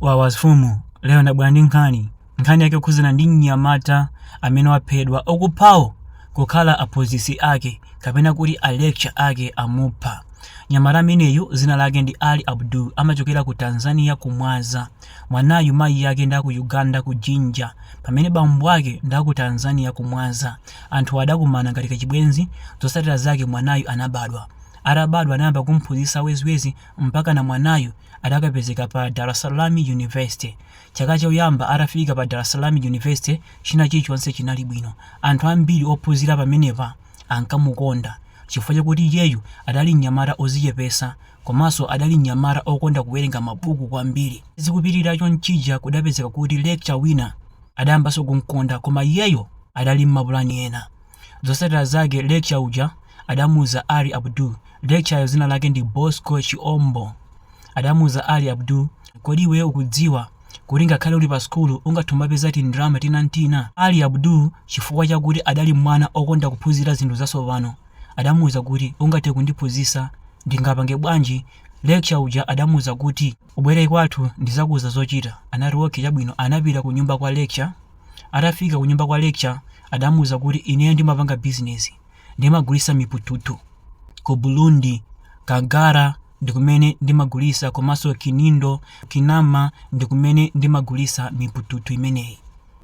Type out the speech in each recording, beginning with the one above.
Wawa mfumu lero ndabwera ndi nkhani. Nkhani yake ikukhudzana ndi mnyamata amene waphedwa okuphawo kukhala aphunzitsi ake kapena kuti a lecture ake amupha. Mnyamata ameneyu dzina lake ndi Ali Abdul amachokera ku Tanzania ku Mwaza. Mwanayu mayi ake ndi aku Uganda ku Jinja pamene bambo ake ndi aku Tanzania ku Mwaza. Anthuwa adakumana ngati kachibwenzi zotsatira zake mwanayu anabadwa. Atabadwa anayamba kumphunzitsa weziwezi mpakana mwanayu adakapezeka pa Dar es Salaam University. Chaka choyamba atafika pa Dar es Salaam University china chilichonse chinali bwino. Anthu ambiri ophunzira pamenepa ankamukonda chifukwa chakuti iyeyu adali mnyamata ozichepesa komaso adali mnyamata okonda kuwerenga mabuku kwambiri. Zikupitirira chonchija kudapezeka kuti lecture wina adayambaso kumkonda koma iyeyo adali mmapulani ena. Zosatira zake lecture uja adamuuza Ali Abdul, lecture yo zina lake ndi Bosco Chiombo, adamuuza Ali Abdul kodi iweyo ukudziwa kuti ngakhale uli pa sukulu ungathe kumapeza tindrama tina ntina? Ali Abdul chifukwa chakuti adali mwana okonda kuphunzira zinthu zasopano adamuuza kuti ungathe kundiphunzisa ndingapange bwanji? Lecture uja adamuuza kuti. Ubwere kwathu ndizakuuza zochita. Anati okay chabwino anapita kunyumba kwa Lecture, atafika kunyumba kwa Lecture adamuuza kuti ineyo ndimapanga business ndimagulisa mipututu ku Burundi, Kangara ndikumene ndimagulisa komaso Kinindo, Kinama ndikumene ndimagulisa mipututu imeneyi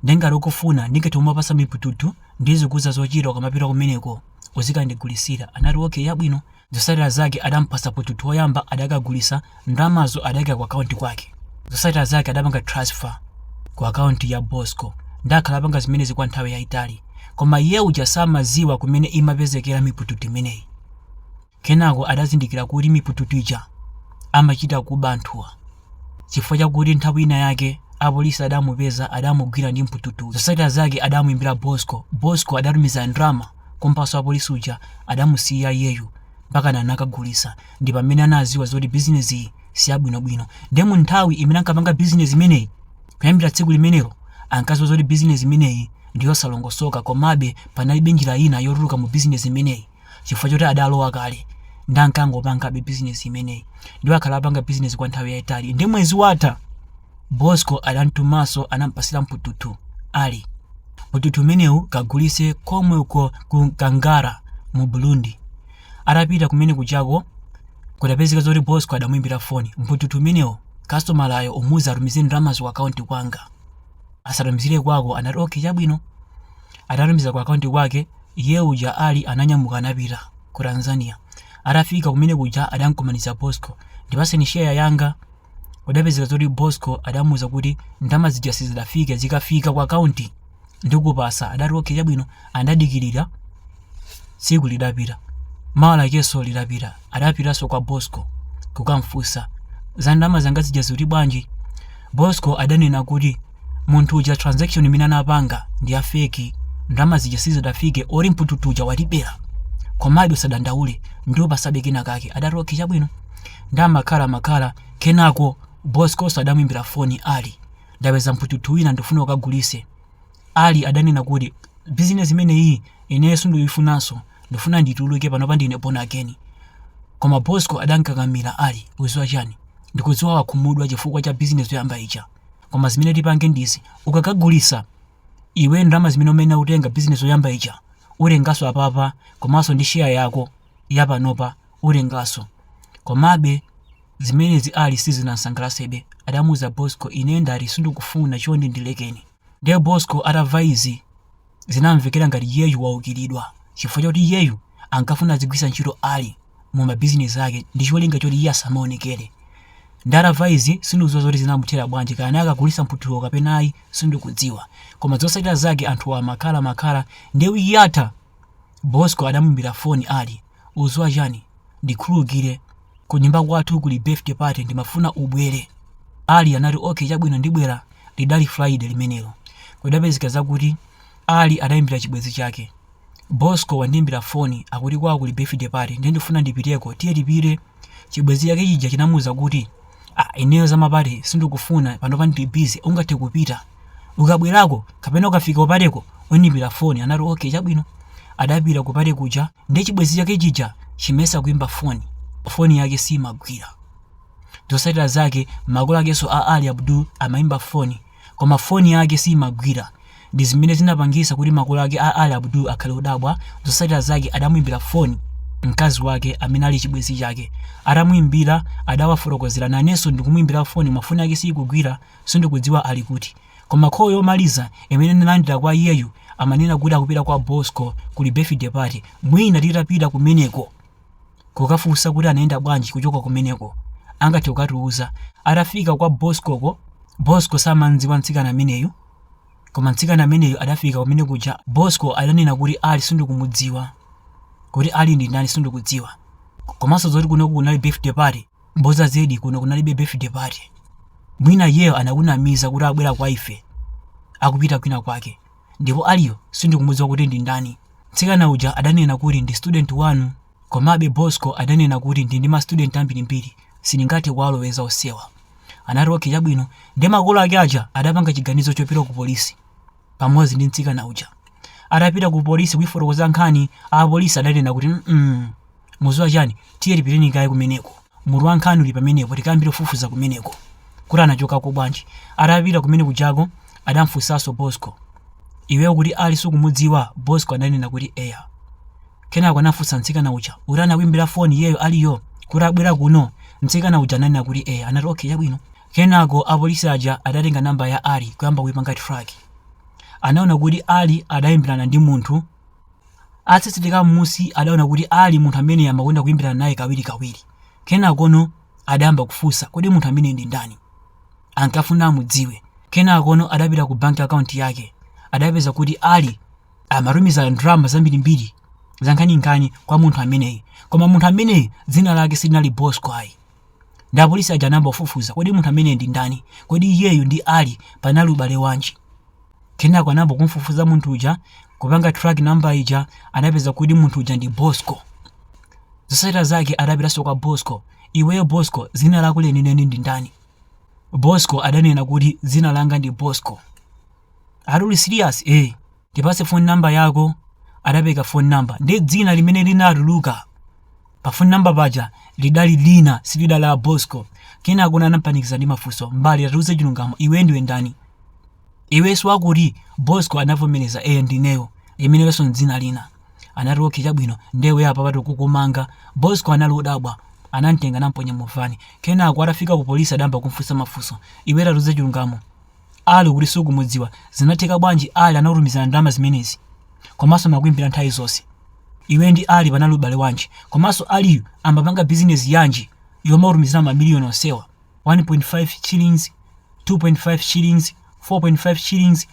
nde ngati ukufuna ndingathe kumakupasa mipututu ndizikuuza zochita ukamapita kumeneko uzikandigulisira. Anati okay yabwino. Zotsatira zake adampatsa mpututu woyamba adakagulisa ndalamazo adaika ku account kwake. Zotsatira zake adapanga transfer ku account ya Bosco nde akhala apanga zimenezi kwa nthawi yaitali koma iye uja samaziwa kumene imapezekera mipututu imeneyi. Kenako adazindikira kuti mipututu ija amachita kuba anthuwa. Chifukwa chakuti nthawi ina yake apolisi adamupeza adamugwira ndi mpututu. Zosatira zake adamuimbira Bosco. Bosco adatumiza ndrama kumpasa wa polisi uja adamusiya iyeyu mpakana anakagulisa ndipamene anaziwa zoti business iyi siyabwino bwino. Nde munthawi imene ankapanga business imeneyi kuyambira tsiku limenelo ankaziwa zoti business imeneyi ndiyosalongosoka komabe panalibe njira ina yotuluka mu business imeneyi. chifukwa choti adalowa kale nde ankangopangabe bizinesi imeneyi ndipo akhala apanga bizinesi kwa nthawi yayitali nde mwezi watha bosco adantumanso anampasira mpututu ali mpututu umenewu kagulise komwe uko ku kangara mu burundi atapita kumene kujako kudapezeka zoti bosco adamuimbira foni mpututu umenewu kastomalayo umuuze atumize ndalamazo ku akaunti kwanga asatumizire kwako anati okay chabwino Atatumiza ku akaunti kwake, iye uja Ali ananyamuka anapita Ku Tanzania. Atafika kumene kuja adamkumanitsa Bosco. Ndipaseni share yanga. Kudapezeka zoti Bosco adamuuza kuti ndama zija sizidafike zikafika ku akaunti ndikupasa. Adati okay chabwino andadikilira. tsiku lidapita mawa lakenso lidapita adapitanso kwa bosco kukamfunsa za ndalama zanga zija zili bwanji bosco adanena kuti munthu uja transaction imene anapanga ndi ya feki ndalama zija sizidafike oti mpututu uja watibera komabe usadandaule ndikupasabe kena kake adati okay chabwino ndiye amakhala makhala kenako boscoso adamwimbira foni ali ndapeza mpututu wina ndifuna ukagulise Ali adanena kuti business imeneyi ineyo sindikuifunanso ndikufuna ndituluke panopa ndine born again koma Bosco adamkakamila Ali uziwa chani ndikudziwa wakhumudwa chifukwa cha business yoyamba ija koma zimene tipange ndi izi ukakagulisa iwe ndalama zimene umayenera kutenga business yoyamba ija utengaso apapa komaso ndi share yako yapanopa utengaso komabe zimenezi Ali sizinamsangalasebe adamuuza Bosco ine ndati sindikufuna chonde ndilekeni. Ndiye Bosco atamva izi, zinamvekera ngati iyeyu waukiridwa chifukwa choti iyeyu ankafuna azigwiritsa ntchito Ali mu ma business ake ndicholinga choti iye asamaonekere. Ndiye atamva izi, sindikudziwa zoti zinamuthera bwanji kaya naye akagulitsa mphuthuwo kapena ayi, sindikudziwa. Koma zotsatira zake anthuwa amakhala amakhala, ndiye week yatha Bosco adamuimbira phone Ali. Uziwa chani? Ndikhululukire. Kunyumba kwathu kuli birthday party ndimafuna ubwere. Ali anati, Okay chabwino ndibwera. Lidali Friday limenelo. Kudapezeka zakuti Ali adaimbira chibwenzi chake. Bosco wandiimbira foni akuti kwawo kuli birthday party ndiye ndifuna ndipiteko. Tiye tipite. Chibwenzi chake chija chinamuuza kuti, Ah ineyo za mapate sindikufuna panopa ndili busy ungathe kupita. Ukabwerako kapena ukafika kupateko undiimbira foni. Anati, Okay chabwino. Adapita kupate kuja. Ndiye chibwenzi chake chija chimayesa kuimba foni, foni yake siimagwira. Zotsatira zake, makolo akenso a Ali Abdul amaimba foni, koma foni yake siimagwira. Ndi zimene zinapangitsa kuti makolo ake a Ali Abdul akhale odabwa. Zotsatira zake, adamuimbira foni mkazi wake amene ali chibwenzi chake. Atamuimbira, adawafotokozera. Nanenso ndikumuimbira foni, koma foni yake siikugwira, sindikudziwa ali kuti. Koma call yomaliza imene ndinalandira kwa iyeyu amanena kuti akupita kwa Bosco kuli birthday party mwina titapita kumeneko kukafunsa kuti anayenda bwanji kuchoka kumeneko angathe kukatiuza. Atafika kwa Boscoko, Bosco samam'dziwa mtsikana ameneyu koma mtsikana ameneyu adafika kumene kuja Bosco adanena kuti Ali sindikumudziwa, kuti Ali ndi ndani sindikudziwa komanso zoti kunoku kunali birthday party. mboza zedi kuno kunalibe birthday party mwina iyeyo anakunamiza kuti abwera kwa ife akupita kwina kwake ndipo aliyo sindikumudziwa kuti ndi ndani mtsikana uja adanena kuti ndi student wanu komabe bosco adanena kuti ndili ndi mastudent ambirimbiri sindingathe kuwaloweza onsewa anati okay chabwino ndi makolo ake aja adapanga chiganizo chopita ku polisi pamodzi ndi mtsikana uja. Atapita ku polisi kuifotokoza nkhani, apolisi adanena kuti mm, muziwa chani, tiye tipiteni kaye kumeneko, mutu wa nkhani uli pamenepo, tikayambire kufufuza kumeneko kuti anachokako bwanji. Atapita kumene kujako adamfunsanso Bosco, iweyo ukuti Ali sukumudziwa? Bosco adanena kuti eya. Kenako anafunsa mtsikana uja kuti anakuimbira foni iyeyo Aliyo kuti abwera kuno. Mtsikana uja ananena kuti eya, anati okay, chabwino. Kenako apolisi aja adatenga number ya Ali kuyamba kuipanga track. Anaona kuti Ali adaimbirana ndi munthu. Atatsetsereka mmusi adaona kuti Ali munthu ameneyi amakonda kuimbirana naye kawirikawiri. Kenakono adayamba kufunsa kodi munthu ameneyi ndi ndani? Ankafuna amudziwe. Kenakono adapita ku bank account yake. Adapeza kuti Ali amatumiza ndalama zambirimbiri zankhaninkhani kwa munthu ameneyi. Koma munthu ameneyi dzina lake silinali Bosco ayi. Ndi apolisi aja anayamba kufufuza, kodi munthu ameneyu ndi ndani? Kodi iyeyu ndi Ali panali ubale wanji? Kenako anayamba kumufufuza munthu uja, kupanga track number ija, anapeza kuti munthu uja ndi Bosco. Zotsatira zake adapitanso kwa Bosco. Iweyo Bosco, dzina lako lenileni ndi ndani? Bosco adanena kuti dzina langa ndi Bosco. Are you serious? Eh, tipase phone number yako. Adapereka phone number. Ndi dzina limene linatuluka Pa phone number paja lidali lina silidali la Bosco. Kenakono anampanikiza ndi mafunso. M'bale tatiuze chilungamo iwe ndiwe ndani? Iwe si wakuti Bosco anavomereza eya ndineyo. Limenelonso dzina lina. Anati okay chabwino nde iwe apapa tikukumanga. Bosco anali odabwa. Anamtenga namponya mu van. Kenako atafika ku polisi adayamba kumfunsa mafunso. Iwe tatiuze chilungamo. Ali ukuti sukumudziwa zinatheka bwanji Ali anakutumizila ndalama zimenezi komanso amakuimbila nthawi zonse iweyo ndi Ali panali ubale wanji komanso Aliyu ambapanga business yanji yomakutumizila ma million onsewa 1.5 shillings 2.5 shillings 4.5 shillings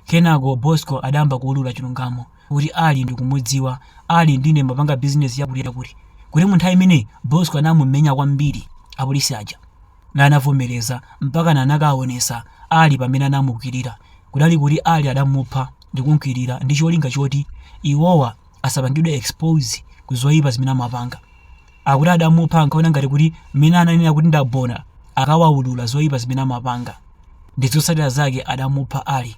kenako Bosco adayamba kuulula chilungamo kuti Ali ndikumudziwa Ali ndi ine timbapanga business yakuti yakuti kuti munthawi imeneyi Bosco anamumenya kwambiri apolisi aja Naye anavomereza mpakana anakaonesa Ali pamene anamukwirira. Kudali kuti Ali adamupha ndikumkwirira ndi cholinga choti iwowa asapangidwe expose ku zoipa zimene amapanga. Akuti adamupha ankaona ngati kuti mmene ananena kuti ndawona akawaulula zoipa zimene amapanga ndizotsatira zake adamupha Ali.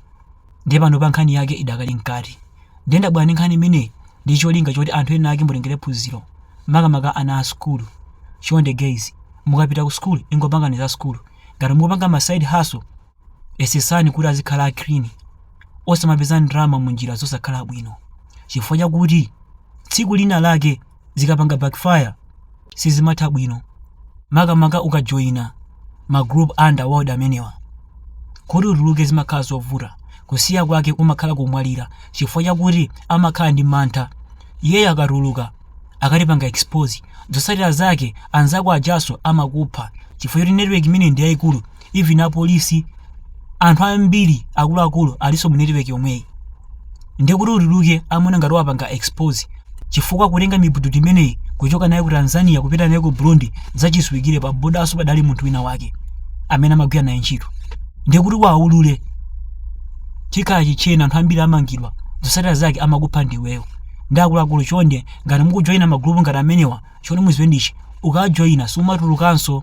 Ndiye panopa nkhani yake idakali mkati. Ndiye ndabwera ndi nkhani imeneyi ndi cholinga choti anthu ena ake mutengere phunziro, makamaka ana a sukulu. Chonde guys, mukapita ku sukulu ingopangani za sukulu. Ngati mukupanga ma side hustle, yesetsani kuti azikhala a clean. Osamapeza ndalama mu njira zosakhala bwino. Chifukwa chakuti tsiku lina lake zikapanga backfire sizimatha bwino makamaka ukajoyina ma group a underworld amenewa kuti utuluke zimakhala zovuta kusiya kwake kumakhala kumwalira chifukwa chakuti amakhala ndi mantha iyeyo akatuluka akatipanga expose zotsatira zake anzako ajaso amakupha chifukwa choti network imeneyi ndi yayikulu even apolisi anthu ambiri akuluakulu alinso mu network yomweyi ndiye kuti utuluke amaona ngati uwapanga expose chifukwa kutenga mibududu imeneyi kuchoka naye ku tanzania kupita naye ku burundi zachidziwikire pa bodaso padali munthu wina wake amene amagwira naye ntchito ndiye kuti uwaulule chikhala chitcheni anthu ambiri amangidwa zosatira zake amakupha ndiweyo ndiye akuluakulu chonde ngati mukujoyina magulupu ngati amenewa chonde muziwe ndichi ukajoyina sumatulukanso